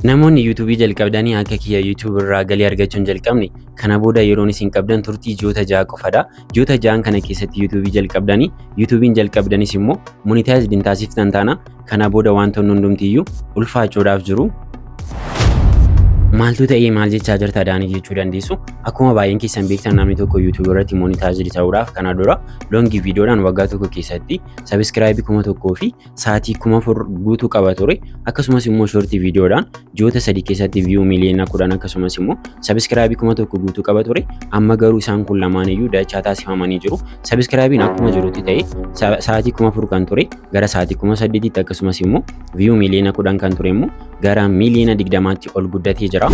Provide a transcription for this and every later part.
Namoonni YouTube jalqabdanii akka kiyya YouTube irraa galii argachuu hin jalqabne kana booda yeroon isin qabdan turtii ji'oota ja'a qofadha. Ji'oota ja'an kana keessatti YouTube jalqabdanii YouTube'n jalqabdanis immoo monetized hin taasiftan taana kana booda wantoonni hundumtiyyuu ulfaachuudhaaf jiru. Maaltu ta'ee maal jechaa jirta daanii jechuu dandeessu. Akkuma baay'een keessan beektan namni tokko YouTube irratti monetized ta'uudhaaf kana dura longi viidiyoodhaan waggaa tokko keessatti sabiskiraayibii kuma tokkoo fi sa'aatii kuma afur guutuu qaba ture akkasumas immoo shortii viidiyoodhaan ji'oota sadii keessatti viyuu miliyoona kudhan akkasumas immoo sabiskiraabii kuma tokko guutuu qaba ture amma garuu isaan kun lamaan iyyuu dachaa taasifamanii jiru sabiskiraabiin akkuma jirutti ta'e sa'aatii kuma afur kan ture gara sa'aatii kuma saddeetitti akkasumas immoo viyuu miliyoona kudhan kan ture immoo gara miiliyoona 20tti ol guddatee jira.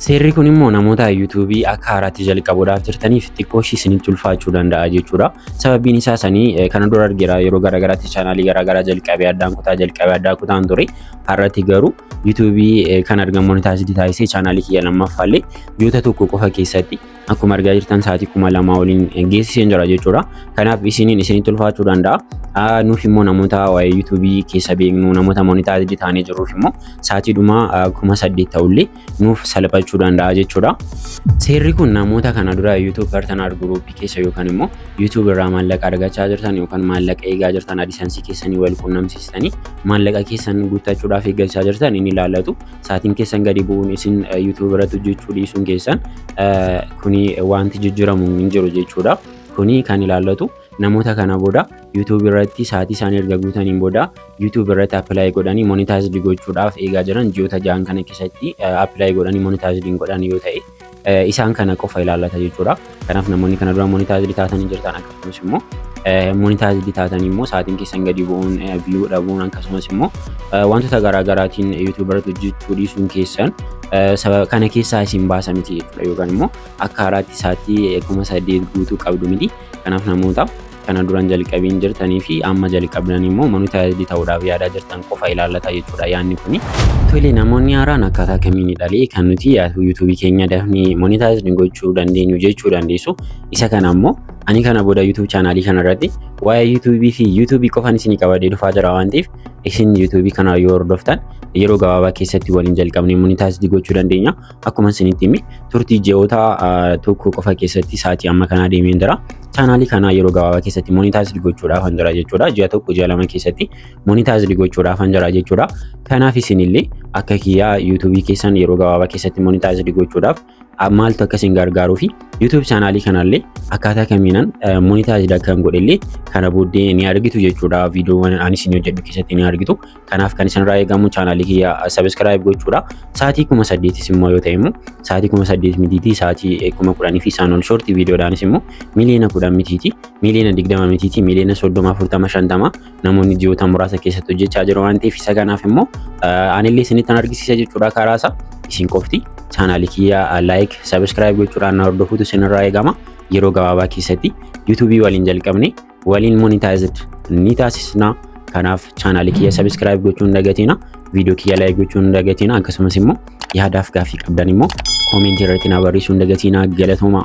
Seerri kun immoo namoota yuutuubii akka haaraatti jalqabuudhaaf jirtaniif xiqqoo ishii isinitti ulfaachuu danda'a jechuudha. Sababiin isaa sanii kana dura argeera yeroo garaagaraatti chaanaalii garaagaraa jalqabee addaan kutaa jalqabee addaa kutaan ture. Har'atti garuu yuutuubii kan argamoonni taasisee taasisee chaanaalii kiyya lammaffaallee ji'oota tokko qofa keessatti akkuma argaa jirtan sa'aatii kuma lamaa waliin geessiseen jira jechuudha. Kanaaf isiniin isinitti ulfaachuu danda'a. Nuuf immoo namoota waa'ee yuutuubii keessa beeknu namoota monitaayitii taanee jirruuf immoo sa'aatii dhuma kuma saddeet ta'ullee nuuf salphachuu danda'a jechuudha. Seerri kun namoota kana dura yuutuub partanar guruupii keessa yookaan immoo yuutuub irraa maallaqa argachaa jirtan yookaan maallaqa eegaa jirtan adisansii keessanii wal quunnamsiistanii maallaqa keessan guuttachuudhaaf eeggachaa jirtan inni ilaallatu saatiin keessan gadi bu'uun isin YouTube irratti hojjechuu dhiisuun keessan kuni wanti jijjiiramu hin jiru jechuudha. Kuni kan ilaallatu namoota kana booda YouTube irratti saatii isaanii erga guutaniin booda YouTube irratti appilaayi godhanii monitaayizdi gochuudhaaf eegaa jiran ji'oota ja'an kana keessatti appilaayi godhanii monitaayizdi hin godhan yoo ta'e isaan kana qofa ilaallata jechuudha. Kanaaf namoonni kana dura monitaayizdi taatanii jirtan akkasumas immoo monitaayizdi taatanii immoo sa'aatiin keessan gadi bu'uun viyuu dhabuun akkasumas immoo wantoota garaagaraatiin yuutuubarratti hojjechuu dhiisuun keessan sababa kana keessaa isin baasa miti jechuudha yookaan immoo akka haaraatti sa'aatii kuma saddeet guutuu qabdu miti. Kanaaf namoota kana duran jalqabiin jirtanii fi amma jalqabdan immoo monitaayizdii ta'uudhaaf yaadaa jirtan qofa ilaallata jechuudha yaadni kuni. Tole namoonni haaraan akkaataa kamiin dhalee kan nuti yuutuubii keenya dafnee monitaayizdii gochuu dandeenyu jechuu dandeessu. Isa kana immoo ani kana booda yuutuubii chaanaalii kana irratti waa'ee yuutuubii fi yuutuubii qofan isinii qabadee dhufaa jira waan ta'eef isin yuutuubii kana yoo hordoftan yeroo gabaabaa keessatti waliin jalqabnee monitaayizdii gochuu dandeenya. Akkuma isinitti himi turtii ji'oota tokko qofa keessatti sa'aatii amma kanaa deemeen jira. Chaanaalii kanaa yeroo gabaabaa keessatti monitaayizdi gochuudhaaf jira jechuudha. Ji'a tokko ji'a lama keessatti monitaayizdi gochuudhaaf jira jechuudha. Kanaaf isinillee akka kiyyaa yuutuubii keessan yeroo gabaabaa keessatti monitaayizdi gochuudhaaf maaltu akka isin gargaaruu fi yuutuubii chaanaalii kanallee akkaataa kamiinan monitaayizdi akka hin godhellee kana booddee ni argitu jechuudha. Viidiyoowwan ani isin hojjedhu keessatti ni argitu. Kanaaf kan isinirraa eegamu chaanaalii kiyya sabiskiraayib gochuudha. Sa'aatii kuma saddeetis immoo yoo ta'e immoo sa'aatii kuma saddeet mitiitii sa'aatii kuma kudhanii fi isaan ol shoortii viidiyoodhaanis immoo miliyoona kudhan mitiitii miliyoona digdama mitiitii miliyoona soddoma afurtama shantama namoonni ji'oota muraasa keessatti hojjechaa jiru waan ta'eef isa kanaaf immoo anillee isinittan argisiisa jechuudha karaa isaa isin qofti chaanaalii kiyya laayik sabiskiraayib gochuudhaan na hordofuutu isinirraa eegama yeroo gabaabaa keessatti yuutuubii waliin jalqabne waliin monetized ni taasisna. Kanaaf chaanaalii kiyya subscribe gochuu hin dagatina. Viidiyoo kiyya like gochuu hin dagatina. Akkasumas immoo yaadaaf gaaffii qabdan immoo koomentii irratti na barreessuu hin dagatina. Galatoomaa.